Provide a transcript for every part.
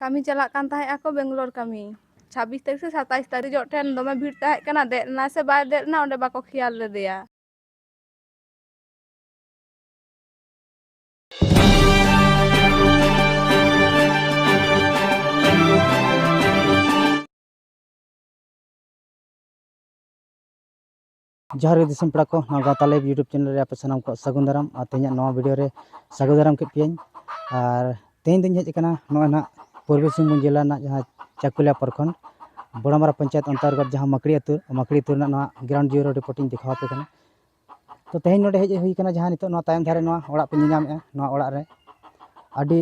ᱠᱟᱹᱢᱤ ᱪᱟᱞᱟᱜ ᱠᱟᱱ ᱛᱟᱦᱮᱸ ᱟᱠᱚ ᱵᱮᱝᱜᱟᱞᱳᱨ ᱠᱟᱹᱢᱤ ᱪᱷᱟᱵᱵᱤᱥ ᱛᱟᱹᱨᱤᱠᱷ ᱥᱮ ᱥᱟᱛᱟᱭᱤᱥ ᱛᱟᱹᱨᱤᱠᱷ ᱡᱚᱜ ᱴᱷᱮᱱ ᱫᱚᱢᱮ ᱵᱷᱤᱲ ᱛᱟᱦᱮᱸ ᱠᱟᱱᱟ ᱫᱮᱡ ᱞᱮᱱᱟ ᱥᱮ ᱵᱟᱭ ᱫᱮᱡ ᱞᱮᱱᱟ ᱚᱸᱰᱮ ᱵᱟᱠᱚ ᱠᱷᱮᱭᱟᱞ ᱞᱮᱫᱮᱭᱟ ᱡᱚᱦᱟᱨ ᱜᱮ ᱫᱤᱥᱚᱢ ᱯᱮᱲᱟ ᱠᱚ ᱱᱚᱣᱟ ᱜᱟᱶᱛᱟ ᱞᱟᱭᱤᱵᱷ ᱤᱭᱩᱴᱩᱵᱽ ᱪᱮᱱᱮᱞ ᱨᱮ ᱟᱯᱮ ᱥᱟᱱᱟᱢ ᱠᱚ ᱥᱟᱹᱜᱩᱱ ᱫᱟᱨᱟᱢ ᱟᱨ ᱛᱮᱦᱮᱧᱟᱜ ᱱᱚᱣᱟ ᱵᱷᱤᱰᱤᱭᱳ ᱨᱮ ᱥᱟᱹᱜᱩᱱ ᱫᱟᱨᱟᱢ ᱠᱮᱫ ᱯᱮᱭᱟᱹᱧ ᱟᱨ ᱛᱮᱦᱮᱧ ᱫᱚᱧ ᱦᱮᱡ ᱟᱠᱟᱱᱟ ᱱᱚᱜᱼᱚᱭ ᱱᱟᱦᱟᱜ ᱯᱩᱨᱵᱚ ᱥᱤᱝᱵᱷᱩᱢ ᱡᱮᱞᱟ ᱨᱮᱱᱟᱜ ᱡᱟᱦᱟᱸ ᱪᱟᱹᱠᱩᱞᱤᱭᱟᱹ ᱯᱨᱚᱠᱷᱚᱸᱰ ᱵᱚᱲᱚᱢᱟᱨᱟ ᱯᱚᱧᱪᱟᱭᱮᱛ ᱚᱱᱛᱚᱨᱜᱚᱛ ᱡᱟᱦᱟᱸ ᱢᱟᱹᱠᱲᱤ ᱟᱹᱛᱩ ᱢᱟᱹᱠᱲᱤ ᱟᱹᱛᱩ ᱨᱮᱱᱟᱜ ᱱᱚᱣᱟ ᱜᱨᱟᱣᱩᱱᱰ ᱡᱤᱨᱳ ᱨᱤᱯᱳᱨᱴ ᱤᱧ ᱫᱮᱠᱷᱟᱣ ᱟᱯᱮ ᱠᱟᱱᱟ ᱛᱚ ᱛᱮᱦᱮᱧ ᱱᱚᱰᱮ ᱦᱮᱡ ᱦᱩᱭ ᱠᱟᱱᱟ ᱡᱟᱦᱟᱸ ᱱᱤᱛᱚᱜ ᱱᱚᱣᱟ ᱛᱟᱭᱚᱢ ᱫᱷᱟᱨᱮ ᱱᱚᱣᱟ ᱚᱲᱟᱜ ᱯᱮ ᱧᱮᱞ ᱧᱟᱢᱮᱜᱼᱟ ᱱᱚᱣᱟ ᱚᱲᱟᱜ ᱨᱮ ᱟᱹᱰᱤ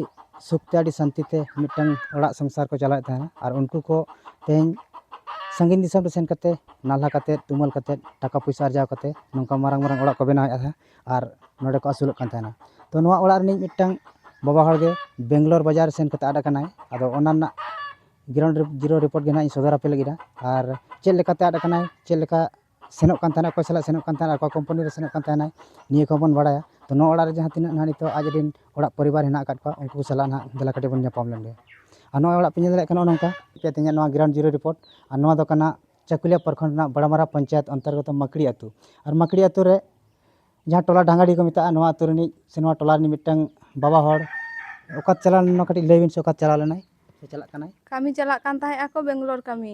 ᱥᱩᱠ ᱛᱮ ᱟᱹᱰᱤ ᱥᱟᱱᱛᱤ ᱛᱮ ᱢᱤᱫᱴᱟᱝ ᱚᱲᱟᱜ ᱥᱚᱝᱥᱟᱨ ᱠᱚ ᱪᱟᱞᱟᱣᱮᱫ ᱛᱟᱦᱮᱱᱟ ᱟᱨ ᱩᱱᱠᱩ ᱠᱚ ᱛᱮᱦᱮᱧ ᱥᱟᱺᱜᱤᱧ ᱫᱤᱥᱚᱢ ᱨᱮ ᱥᱮᱱ ᱠᱟᱛᱮ ᱱᱟᱞᱦᱟ ᱠᱟᱛᱮ ᱛᱩᱢᱟᱹᱞ ᱠᱟᱛᱮ ᱴᱟᱠᱟ ᱯᱚᱭᱥᱟ ᱟᱨᱡᱟᱣ ᱠᱟᱛᱮ ᱱᱚᱝᱠᱟ ᱢᱟᱨᱟᱝ ᱢᱟᱨᱟᱝ ᱚᱲᱟᱜ ᱠᱚ ᱵᱮᱱᱟᱣᱮᱫ ᱛᱟᱦᱮᱱᱟ ᱟᱨ ᱱᱚᱰᱮ ᱠᱚ ᱟᱹᱥᱩᱞᱚᱜ ᱠᱟᱱ ᱛᱟᱦᱮᱱᱟ ᱛᱚ ᱱᱚᱣᱟ ᱚᱲᱟᱜ ᱨᱤᱱᱤᱡ ᱢᱤᱫᱴᱟᱝ ᱵᱟᱵᱟ ᱦᱚᱲ ᱜᱮ ᱵᱮᱝᱜᱽᱞᱳᱨ ᱵᱟᱡᱟᱨ ᱥᱮᱱ ᱠᱟᱛᱮ ᱟᱫ ᱠᱟᱱᱟᱭ ᱟᱫᱚ ᱚᱱᱟ ᱨᱮᱱᱟᱜ ᱜᱨᱟᱣᱩᱱᱰ ᱡᱤᱨᱳ ᱨᱤᱯᱳᱨᱴ ᱜᱮ ᱦᱟᱸᱜ ᱤᱧ ᱥᱚᱫᱚᱨ ᱟᱯᱮ ᱞᱟᱹᱜᱤᱫᱼᱟ ᱟᱨ ᱪᱮᱫ ᱞᱮᱠᱟᱛᱮ ᱟᱫ ᱠᱟᱱᱟᱭ ᱪᱮᱫ ᱞᱮᱠᱟ ᱥᱮᱱᱚᱜ ᱠᱟᱱ ᱛᱟᱦᱮᱱᱟᱭ ᱚᱠᱚᱭ ᱥᱟᱞᱟᱜ ᱥᱮᱱᱚᱜ ᱠᱟᱱ ᱛᱟᱦᱮᱱᱟᱭ ᱚᱠᱟ ᱠᱳᱢᱯᱟᱱᱤ ᱨᱮ ᱥᱮᱱᱚᱜ ᱠᱟᱱ ᱛᱟᱦᱮᱱᱟᱭ ᱱᱤᱭᱟᱹ ᱠᱚᱦᱚᱸ ᱵᱚᱱ ᱵᱟᱲᱟᱭᱟ ᱛᱳ ᱱᱚᱣᱟ ᱚᱲᱟᱜ ᱨᱮ ᱡᱟᱦᱟᱸ ᱛᱤᱱᱟᱹᱜ ᱱᱟᱦᱟᱜ ᱱᱤᱛᱚᱜ ᱟᱡ ᱨᱮᱱ ᱚᱲᱟᱜ ᱯᱚᱨᱤᱵᱟᱨ ᱦᱮᱱᱟᱜ ᱟᱠᱟᱫ ᱠᱚᱣᱟ ᱩᱱᱠᱩ ᱥᱟᱞᱟᱜ ᱱᱟᱦᱟᱜ ᱫᱮᱞᱟ ᱠᱟᱹᱴᱤᱡ ᱵᱚᱱ ᱧᱟᱯᱟᱢ ᱞᱮᱱᱜᱮ ᱟᱨ ᱱᱚᱣᱟ ᱚᱲᱟᱜ ᱯᱮ ᱧᱮᱞ ᱫᱟᱲᱮᱭᱟᱜ ᱠᱟᱱᱟ ᱱᱚᱝᱠᱟ ᱪᱮᱫ ᱤᱧᱟᱹᱜ ᱱᱚᱣᱟ ᱜᱨᱟᱣᱩᱱᱰ ᱡᱤᱨᱳ ᱨᱤᱯᱳᱨᱴ ᱟᱨ ᱱᱚᱣᱟ ᱫᱚ ᱠᱟᱱᱟ ᱪᱟᱹᱠᱩᱞᱤᱭᱟᱹ ᱯᱨᱚᱠᱷᱚᱸᱰ ᱨᱮᱱᱟᱜ ᱵᱟᱲᱟᱢᱟᱨᱟ ᱯᱚᱧᱪᱟᱭᱮᱛ ᱚᱱᱛᱚᱨᱜᱚᱛᱚ ᱢᱟᱹᱠᱲᱤ ᱟᱹᱛᱩ ᱟᱨ ᱢᱟᱹᱠᱲᱤ ᱟᱹᱛᱩ ᱨᱮ ᱡᱟᱦᱟᱸ ᱴᱚᱞᱟ ᱰᱷᱟᱝᱜᱟᱰᱤ ᱠᱚ ᱢᱮᱛᱟᱜᱼᱟ ᱱᱚᱣᱟ ᱟᱹᱛᱩ ᱨᱤᱱᱤᱡ ᱥᱮ ᱱᱚᱣᱟ ᱴᱚᱞᱟ ᱨᱤᱱᱤᱡ ᱢᱤᱫᱴᱟᱱ ᱵᱟᱵᱟ ᱦᱚᱲ ᱚᱠᱟᱛᱮ ᱪᱟᱞᱟᱣ ᱞᱮᱱᱟᱭ ᱠᱟᱹᱴᱤᱡ ᱞᱟᱹᱭ ᱵᱤᱱ ᱥᱮ ᱚᱠᱟᱛᱮ ᱪᱟᱞᱟᱣ ᱞᱮᱱᱟᱭ ᱥᱮ ᱪᱟᱞᱟᱜ ᱠᱟᱱᱟᱭ ᱠᱟᱹᱢᱤ ᱪᱟᱞᱟᱜ ᱠᱟᱱ ᱛᱟᱦᱮᱸᱜ ᱟᱠᱚ ᱵᱮᱝᱜᱚᱞᱳᱨ ᱠᱟᱹᱢᱤ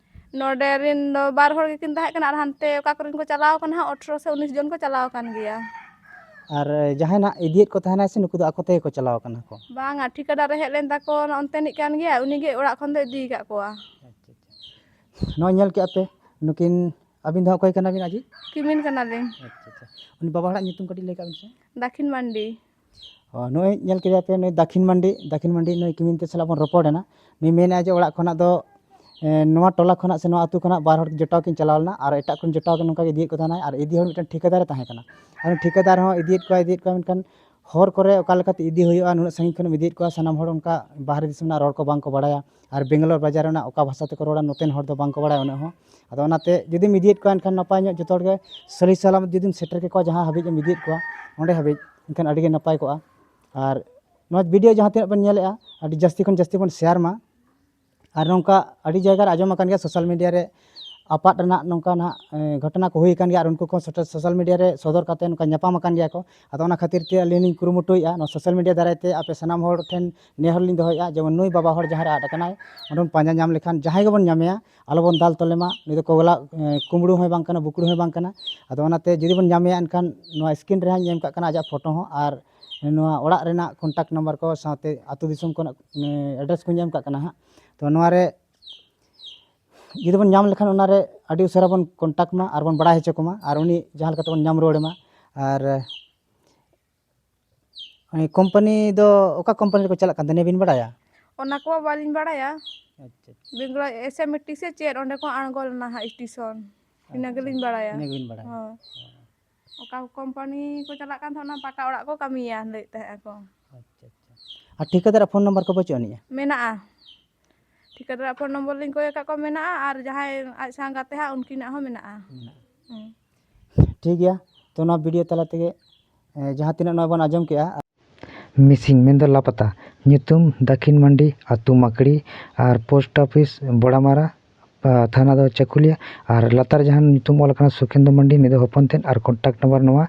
ᱱᱚᱰᱮ ᱨᱮᱱ ᱫᱚ ᱵᱟᱨ ᱦᱚᱲ ᱜᱮᱠᱤᱱ ᱛᱟᱦᱮᱸ ᱠᱟᱱᱟ ᱟᱨ ᱦᱟᱱᱛᱮ ᱚᱠᱟ ᱠᱚᱨᱮᱱ ᱠᱚ ᱪᱟᱞᱟᱣ ᱠᱟᱱᱟ ᱦᱟᱸᱜ ᱟᱴᱷᱨᱚ ᱥᱮ ᱩᱱᱤᱥ ᱡᱚᱱ ᱠᱚ ᱪᱟᱞᱟᱣ ᱟᱠᱟᱱ ᱜᱮᱭᱟ᱾ ᱟᱨ ᱡᱟᱦᱟᱸᱭ ᱱᱟᱜ ᱤᱫᱤᱭᱮᱫ ᱠᱚ ᱛᱟᱦᱮᱱᱟᱭ ᱥᱮ ᱱᱩᱠᱩ ᱫᱚ ᱟᱠᱚ ᱛᱮᱜᱮ ᱠᱚ ᱪᱟᱞᱟᱣ ᱠᱟᱱᱟ ᱠᱚ? ᱵᱟᱝᱟ ᱴᱷᱤᱠᱟᱹᱫᱟᱨ ᱨᱮ ᱦᱮᱡ ᱞᱮᱱ ᱛᱟᱠᱚ ᱚᱱᱛᱮᱱᱤᱡ ᱠᱟᱱ ᱜᱮᱭᱟᱭ ᱩᱱᱤᱜᱮ ᱚᱲᱟᱜ ᱠᱷᱚᱱ ᱫᱚ ᱤᱫᱤ ᱟᱠᱟᱫ ᱠᱚᱣᱟ᱾ ᱱᱚᱜᱼᱚᱭ ᱧᱮᱞ ᱠᱮᱜᱼᱟ ᱯᱮ ᱱᱩᱠᱤᱱ ᱟᱹᱵᱤᱱ ᱫᱚ ᱦᱟᱸᱜ ᱚᱠᱚᱭ ᱠᱟᱱᱟᱵᱤᱱ ᱟᱡᱤᱡ? ᱠᱤᱢᱤᱱ ᱠᱟᱱᱟᱞᱤᱧ᱾ ᱟᱪᱪᱷᱟ ᱟᱪᱪᱷᱟ ᱩᱱᱤ ᱵᱟᱵᱟ ᱦᱚᱲᱟᱜ ᱧᱩᱛᱩᱢ ᱠᱟᱹᱴᱤᱡ ᱞᱟᱹᱭ ᱠᱟᱜ ᱵᱤᱱ ᱥᱮ? ᱫᱟᱠᱷᱤᱱ ᱢᱟᱱᱰᱤ᱾ ᱱᱚᱜᱼᱚᱸᱭ ᱧᱮᱞ ᱠᱮᱫᱟ ᱯᱮ ᱱᱩᱭ ᱫᱟᱹᱠᱷᱤᱱ ᱢᱟᱱᱰᱤ ᱫᱟᱹᱠᱷᱤᱱ ᱢᱟᱱᱰᱤ ᱱᱩᱭ ᱠᱤᱢᱤᱱ ᱛᱟᱹᱭ ᱥᱟᱞᱟᱜ ᱵᱚᱱ ᱨᱚᱯᱚᱲ ᱮᱱᱟ ᱱᱩᱭ ᱢᱮᱱᱮᱫ ᱟᱭ ᱡᱮ ᱚᱲᱟᱜ ᱠᱷᱚᱱᱟᱜ ᱫᱚ ᱱᱚᱣᱟ ᱴᱚᱞᱟ ᱠᱷᱚᱱᱟᱜ ᱥᱮ ᱱᱚᱣᱟ ᱟᱛᱳ ᱠᱷᱚᱱᱟᱜ ᱵᱟᱨ ᱦᱚᱲ ᱡᱚᱴᱟᱣ ᱠᱤᱱ ᱪᱟᱞᱟᱣ ᱞᱮᱱᱟ ᱟᱨ ᱮᱴᱟᱜ ᱠᱚ ᱡᱚᱴᱟᱣ ᱫᱚ ᱱᱚᱝᱠᱟ ᱜᱮ ᱤᱫᱤᱭᱮᱫ ᱠᱚ ᱛᱟᱦᱮᱱᱟᱭ ᱟᱨ ᱤᱫᱤ ᱦᱚᱲ ᱢᱤᱫᱴᱮᱱ ᱴᱷᱤᱠᱟᱹᱫᱟᱨᱮ ᱛᱟᱦᱮᱸ ᱠᱟᱱᱟ ᱟᱨ ᱩᱱᱤ ᱴᱷᱤᱠᱟᱹᱫᱟᱨ ᱦᱚᱸ ᱤᱫᱤᱭᱮᱫ ᱠᱚᱣᱟᱭ ᱤᱫᱤᱭᱮᱫ ᱠᱚᱣᱟᱭ ᱢᱮᱱᱠᱷᱟᱱ ᱦᱚᱨ ᱠᱚᱨᱮᱜ ᱚᱠᱟ ᱞᱮᱠᱟᱛᱮ ᱤᱫᱤ ᱦᱩᱭᱩᱜᱼᱟ ᱱᱩᱱᱟᱹᱜ ᱥᱟᱺᱜᱤᱧ ᱠᱷᱚᱱᱮᱢ ᱤᱫᱤᱭᱮᱫ ᱠᱚᱣᱟ ᱥᱟᱱᱟᱢ ᱦᱚᱲ ᱚᱱᱠᱟ ᱵᱟᱦᱨᱮ ᱫᱤᱥᱚᱢ ᱨᱮᱱᱟᱜ ᱨᱚᱲ ᱠᱚ ᱵᱟᱝ ᱠᱚ ᱵᱟᱲᱟᱭᱟ ᱟᱨ ᱵᱮᱝᱜᱟᱞᱳᱨ ᱵᱟᱡᱟᱨ ᱨᱮᱱᱟᱜ ᱚᱠᱟ ᱵᱷᱟᱥᱟ ᱛᱮᱠᱚ ᱨᱚᱲᱟ ᱱᱚᱛᱮᱱ ᱦᱚᱲ ᱫᱚ ᱵᱟᱝᱠᱚ ᱵᱟᱲᱟᱭᱟ ᱩᱱᱟᱹᱜ ᱦᱚᱸ ᱟᱫᱚ ᱚᱱᱟᱛᱮ ᱡᱩᱫᱤᱢ ᱤᱫᱤᱭᱮᱫ ᱠᱚᱣᱟ ᱮᱱᱠᱷᱟᱱ ᱱᱟᱯᱟᱭ ᱧᱚᱜ ᱡᱚᱛᱚ ᱦᱚᱲᱜᱮ ᱥᱟᱹᱦᱤ ᱥᱟᱞᱟᱢᱚᱛ ᱡᱩᱫᱤᱢ ᱥᱮᱴᱮᱨ ᱠᱮᱠᱚᱣᱟ ᱡᱟᱦᱟᱸ ᱦᱟᱹᱵᱤᱡ ᱮᱢ ᱤᱫᱤᱭᱮᱫ ᱠᱚᱣᱟ ᱚᱸᱰᱮ ᱦᱟᱹᱵᱤᱡ ᱮᱱᱠᱷᱟᱱ ᱟᱹᱰᱤᱜᱮ ᱱᱟᱯᱟᱭ ᱠᱚᱜᱼᱟ ᱟᱨ ᱱᱚᱣᱟ ᱵᱷᱤᱰᱭᱳ ᱡᱟᱦᱟᱸ ᱛᱤᱱᱟᱹᱜ ᱵᱚᱱ ᱧᱮᱞᱮᱜᱼᱟ ᱟᱹᱰᱤ ᱡᱟᱹᱥᱛᱤ ᱠᱷᱚᱱ ᱡᱟᱹᱥᱛᱤ ᱵᱚᱱ ᱥᱮᱭᱟᱨ ᱢᱟ ᱟᱨ ᱱᱚᱝᱠᱟ ᱟᱹᱰᱤ ᱡᱟᱭᱜᱟ ᱨᱮ ᱟᱸᱡᱚᱢ ᱟᱠᱟᱱ ᱜᱮᱭᱟ ᱥᱳᱥᱟᱞ ᱢᱤᱰᱤᱭᱟ ᱨᱮ ᱟᱯᱟᱫ ᱨᱮᱱᱟᱜ ᱱᱚᱝᱠᱟᱱᱟᱜ ᱜᱷᱚᱴᱚᱱᱟ ᱠᱚ ᱦᱩᱭ ᱟᱠᱟᱱ ᱜᱮᱭᱟ ᱟᱨ ᱩᱱᱠᱩ ᱠᱚ ᱥᱳᱥᱟᱞ ᱢᱤᱰᱤᱭᱟ ᱨᱮ ᱥᱚᱫᱚᱨ ᱠᱟᱛᱮᱫ ᱱᱚᱝᱠᱟ ᱧᱟᱯᱟᱢ ᱟᱠᱟᱱ ᱜᱮᱭᱟ ᱠᱚ ᱟᱫᱚ ᱚᱱᱟ ᱠᱷᱟᱹᱛᱤᱨ ᱛᱮ ᱟᱹᱞᱤᱧ ᱞᱤᱧ ᱠᱩᱨᱩᱢᱩᱴᱩᱭᱮᱫᱼᱟ ᱱᱚᱣᱟ ᱥᱳᱥᱟᱞ ᱢᱤᱰᱤᱭᱟ ᱫᱟᱨᱟᱭ ᱛᱮ ᱟᱯᱮ ᱥᱟᱱᱟᱢ ᱦᱚᱲ ᱴᱷᱮᱱ ᱱᱮᱦᱚᱨ ᱞᱤᱧ ᱫᱚᱦᱚᱭᱮᱫᱼᱟ ᱡᱮᱢᱚᱱ ᱱᱩᱭ ᱵᱟᱵᱟ ᱦᱚᱲ ᱡᱟᱦᱟᱸ ᱨᱮ ᱟᱫ ᱟᱠᱟᱱᱟᱭ ᱩᱱᱤ ᱵᱚᱱ ᱯᱟᱸᱡᱟ ᱧᱟᱢ ᱞᱮᱠᱷᱟᱱ ᱡᱟᱦᱟᱸᱭ ᱜᱮᱵᱚᱱ ᱧᱟᱢᱮᱭᱟ ᱟᱞᱚ ᱵᱚᱱ ᱫᱟᱞ ᱛᱚᱞᱮ ᱢᱟ ᱱᱩᱭ ᱫᱚ ᱠᱚᱵᱞᱟ ᱠᱩᱢᱵᱽᱲᱩ ᱦᱚᱸ ᱵᱟᱝ ᱠᱟᱱᱟᱭ ᱵᱩᱠᱲᱩ ᱦᱚᱸ ᱵᱟᱝ ᱠᱟᱱᱟᱭ ᱟᱫᱚ ᱚᱱᱟᱛᱮ ᱡᱩᱫᱤ ᱵᱚᱱ ᱧᱟᱢᱮᱭᱟ ᱮᱱᱠᱷᱟᱱ ᱱᱚᱣᱟ ᱥᱠᱨᱤᱱ ᱨᱮ ᱦᱟᱸᱜ ᱤᱧ ᱮᱢ ᱠᱟᱜ ᱠᱟᱱᱟ ᱟᱡᱟᱜ ᱯᱷᱳᱴᱳ ᱦᱚᱸ ᱟᱨ ᱱᱚᱣᱟ ᱚᱲᱟᱜ ᱨᱮᱱᱟᱜ ᱠᱚᱱᱴᱟᱠᱴ ᱱᱟᱢᱵᱟᱨ ᱠᱚ ᱥᱟᱶᱛᱮ ᱟᱹᱛᱩ ᱫᱤᱥᱚᱢ ᱠᱚᱨᱮᱱᱟᱜ ᱮᱰᱨᱮᱥ ᱠᱚᱧ ᱮᱢ ᱠᱟᱜ ᱠᱟᱱᱟ ᱦᱟᱸᱜ ᱛᱳ ᱱᱚᱣᱟᱨᱮ ᱡᱩᱫᱤ ᱵᱚᱱ ᱧᱟᱢ ᱞᱮᱠᱷᱟᱱ ᱚᱱᱟᱨᱮ ᱟᱹᱰᱤ ᱩᱥᱟᱹᱨᱟ ᱵᱚᱱ ᱠᱚᱱᱴᱟᱠᱴ ᱢᱟ ᱟᱨ ᱵᱚᱱ ᱵᱟᱲᱟᱭ ᱦᱚᱪᱚ ᱠᱚᱢᱟ ᱟᱨ ᱩᱱᱤ ᱡᱟᱦᱟᱸ ᱞᱮᱠᱟ ᱛᱮᱵᱚᱱ ᱧᱟᱢ ᱨᱩᱣᱟᱹᱲᱮ ᱢᱟ ᱟᱨ ᱩᱱᱤ ᱠᱳᱢᱯᱟᱱᱤ ᱫᱚ ᱚᱠᱟ ᱠᱳᱢᱯᱟᱱᱤ ᱨᱮᱠᱚ ᱪᱟᱞᱟᱜ ᱠᱟᱱ ᱛᱟᱦᱮᱸᱫ ᱱᱤᱭᱟᱹ ᱵᱤᱱ ᱵᱟᱲᱟᱭᱟ ᱚᱱᱟ ᱠᱚ ᱵᱟᱹᱞᱤᱧ ᱵᱟᱲᱟᱭᱟ ᱟᱪᱪᱷᱟ ᱵᱮᱝᱜᱚᱞ ᱮᱥ ᱮᱢ ᱴᱤ ᱥᱮ ᱪᱮᱫ ᱚᱸᱰᱮ ᱠᱚ ᱟᱬᱜᱚ ᱞᱮᱱᱟ ᱦᱟᱸᱜ ᱥᱴᱮᱥᱚᱱ ᱤᱱᱟᱹ ᱜᱮᱞᱤᱧ ᱵᱟᱲᱟᱭᱟ ᱤᱱᱟᱹ ᱜᱮᱵᱤᱱ ᱵᱟᱲᱟᱭᱟ ᱦᱳᱭ ᱚᱠᱟ ᱠᱳᱢᱯᱟᱱᱤ ᱠᱚ ᱪᱟᱞᱟᱜ ᱠᱟᱱ ᱛᱟᱦᱮᱸᱫ ᱚᱱᱟ ᱯᱟᱠᱟ ᱚᱲᱟᱜ ᱠᱚ ᱠᱟᱹᱢᱤᱭᱟ ᱞᱟᱹᱭᱮᱫ ᱛᱟᱦᱮᱸᱫ ᱟᱠᱚ ᱟᱪᱪᱷᱟ ᱟᱪᱪᱷᱟ ᱟᱨ ᱴᱷᱤᱠᱟᱹᱫᱟᱨᱟᱜ ᱯᱷᱳᱱ ᱱᱟᱢᱵᱟᱨ ᱠᱚ ᱵᱟᱹᱪᱩᱜ ᱟᱹᱱᱤᱡᱼᱟ ᱢᱮᱱᱟᱜᱼᱟ ᱴᱷᱤᱠᱟᱹᱫᱟᱨᱟᱜ ᱯᱷᱳᱱ ᱱᱚᱢᱵᱚᱨ ᱞᱤᱧ ᱠᱚᱭ ᱟᱠᱟᱫ ᱠᱚᱣᱟ ᱢᱮᱱᱟᱜᱼᱟ ᱟᱨ ᱡᱟᱦᱟᱸᱭ ᱟᱡ ᱥᱟᱶ ᱜᱟᱛᱮ ᱦᱟᱸᱜ ᱩᱱᱠᱤᱱᱟᱜ ᱦᱚᱸ ᱢᱮᱱᱟᱜᱼᱟ ᱦᱮᱸ ᱴᱷᱤᱠ ᱜᱮᱭᱟ ᱛᱚ ᱱᱚᱣᱟ ᱵᱷᱤᱰᱤᱭᱳ ᱛᱟᱞᱟ ᱛᱮᱜᱮ ᱡᱟᱦᱟᱸ ᱛᱤᱱᱟᱹᱜ ᱱᱚᱣᱟ ᱵᱚᱱ ᱟᱸᱡᱚᱢ ᱠᱮᱜᱼᱟ ᱢᱤᱥᱤᱝ ᱢᱮᱱᱫᱚ ᱞᱟᱯᱟᱛᱟ ᱧᱩᱛᱩᱢ ᱫᱟᱹᱠᱷᱤᱱ ᱢᱟᱱᱰᱤ ᱟᱹᱛᱩ ᱢᱟᱠᱲᱤ ᱟᱨ ᱯᱳᱥᱴ ᱚᱯᱷᱤᱥ ᱵᱚᱲᱟᱢᱟᱨᱟ ᱛᱷᱟᱱᱟ ᱫᱚ ᱪᱟᱹᱠᱩᱞᱤᱭᱟᱹ ᱟᱨ ᱞᱟᱛᱟᱨ ᱡᱟᱦᱟᱸ ᱧᱩᱛᱩᱢ ᱚᱞ ᱟᱠᱟᱱᱟ ᱥᱩᱠᱷᱮᱱᱫᱩ ᱢᱟᱱᱰᱤ ᱱᱩᱭ ᱫᱚ ᱦᱚᱯᱚᱱ ᱛᱮᱫ ᱟᱨ ᱠᱚᱱᱴᱟᱠᱴ ᱱᱟᱢᱵᱟᱨ ᱱᱚᱣᱟ